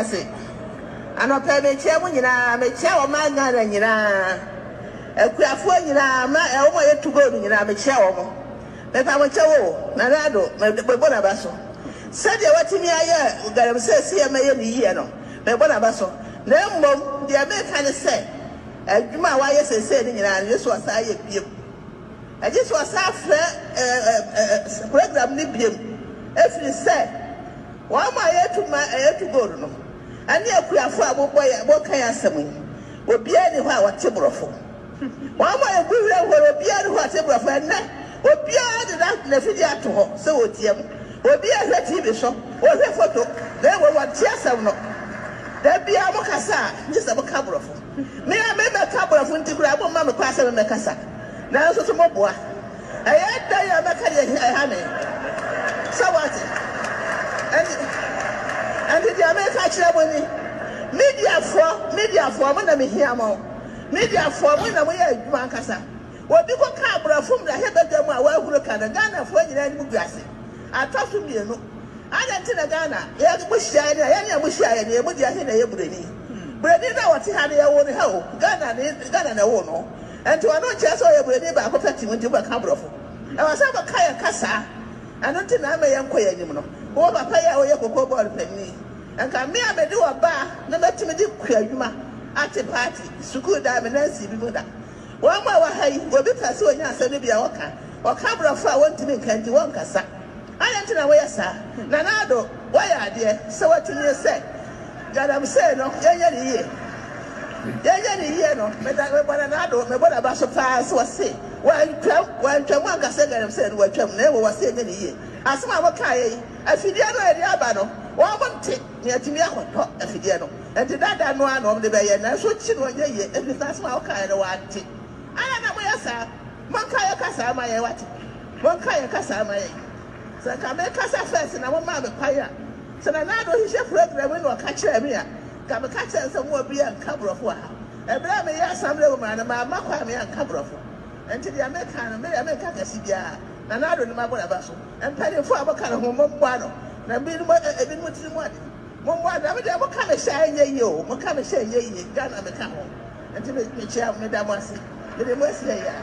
ase. Anɔpa yi mekyia mo nyinaa, mekyia ɔman Ghana nyinaa, akuafoɔ nyinaa, ma ɛ wɔn a yɛtu gold nyinaa mekyia wɔn. Mepa mo kyɛw o, Nana Addo me mebɔ n'aba so. Sɛdeɛ watumi ayɛ Galamsey sɛ yɛma yɛ ne yie no, mebɔ n'aba so. Na mmom deɛ meka ne sɛ, adwuma a wayɛ seesei no nyinaa no, Yesu asan ayɛ bio. Ɛgye sɛ ɔsan frɛ program no bio, ɛfiri sɛ wɔn a yɛtu ma ɛyɛ to go no ne akuafo a wɔbɔ yɛn wɔka yɛn asɛm yi, obiara nni hɔ a ɔte borɔfo. Wɔn a yɛgu werɛ mpo no, obiara nni hɔ a ɔte borɔfo. Ɛnnɛ, obiara de n'afidie ato hɔ sɛ ɔretie mo. Obiara hwɛ TV so, ɔhwɛ foto, na mmom ɔnte asɛm no. Da biara mokasa a, gye sɛ moka borɔfo. Me a mebɛka aborɔfo nti koraa momma me kwan sɛ memmɛkasa, nanso so moboa? Ɛyɛ dɛn a mɛka deɛ ɛha me? Sɛ woate? Ɛnti, ɛnti deɛ meka akyerɛ mo ni, mediafoɔ, mediafoɔ, mo na mehia mo, mediafoɔ, mo na moyɛ adwuma ankasa. Obi kɔ ka aborɔfo mmarahyɛ badwam a wahuro ka no Ghanafoɔ nyinaa anim gu ase. Atɔ so mmienu, adɛn nti na Ghana yɛ mo hyiaeɛ ne a yɛne a mo hyiaeɛ no yɛ mo deɛ he na ɛyɛ buroni? Buroni no a ɔte ha no yɛwoo no ha o, Ghana ne Ghana na ɛwoo no nti ɔno nkyerɛ sɛ ɔyɛ buroni baako pɛ tim nti mobɛka aborɔfo. Ɛwɔ sɛ moka yɛn kasa ɛno nti na ama yɛnkɔ yɛn anim no. Wo papa yi a ɔyɛ koko board panin yi nka me a mede ɔbaa no mɛtumi de kua adwuma ate party sukuu daa me nansi bi mu da Wɔn mu a wɔwɔ ha yi, obi pɛ sɛ onya asɛm no bi a, ɔka. Ɔka Borɔfo a wontumi nka nti, wɔnkasa. Adɛn nti na woyɛ saa? Nana Addo, Woayɛ adeɛ. Sɛ watumi sɛ Galamsey no, yɛnyɛ no yie. Yɛnyɛ no yie no, meda, mebɔ Nana Addo, mebɔ n'aba so pa ara sɛ ɔse wantwam, wantwam anka sɛ Galamsey no watwam, na mmom ɔse yɛnyɛ no yie. Asɛm a mokaeɛ yi, afidie no a yɛde aba no, wɔnte. Yɛatumi akɔtɔ afidie no. Enti dada no ara na wɔde bɛyɛ, nanso ɔkyi no ɔnyɛ yie ɛfiri sɛ asɛm a wokaeɛ no wante. Adɛn na moyɛ saa? Monka yɛn kasaa mma yɛn wate? Monka yɛn kasaa mma yɛn. Sɛ nka mekasa first na momaa me kwan a, sɛ Nana Addo hyehyɛ program yi na ɔka kyerɛɛ me a, nka meka kyerɛɛ no sɛ mo obiara nka Borɔfo wɔ ha. Ɛberɛ a meyɛ Asamblea wɔ mu ara no, mamma kwan a meanka Borɔfo. Enti deɛ meka no, me deɛ menka kɛse biara. Nana Addo ne mabɔ n'aba so. Mpanyimfo a moka ne ho mommoa no, na binom ɛ ɛ binom tiri mu ade. Mommoa no. Na me deɛ moka me hyɛ a ɛnyɛ yie o, moka me hyɛ a ɛnyɛ yie, Ghana meka ho. Nti me mekyia meda mo ase. Mede mo asi ayɛ a.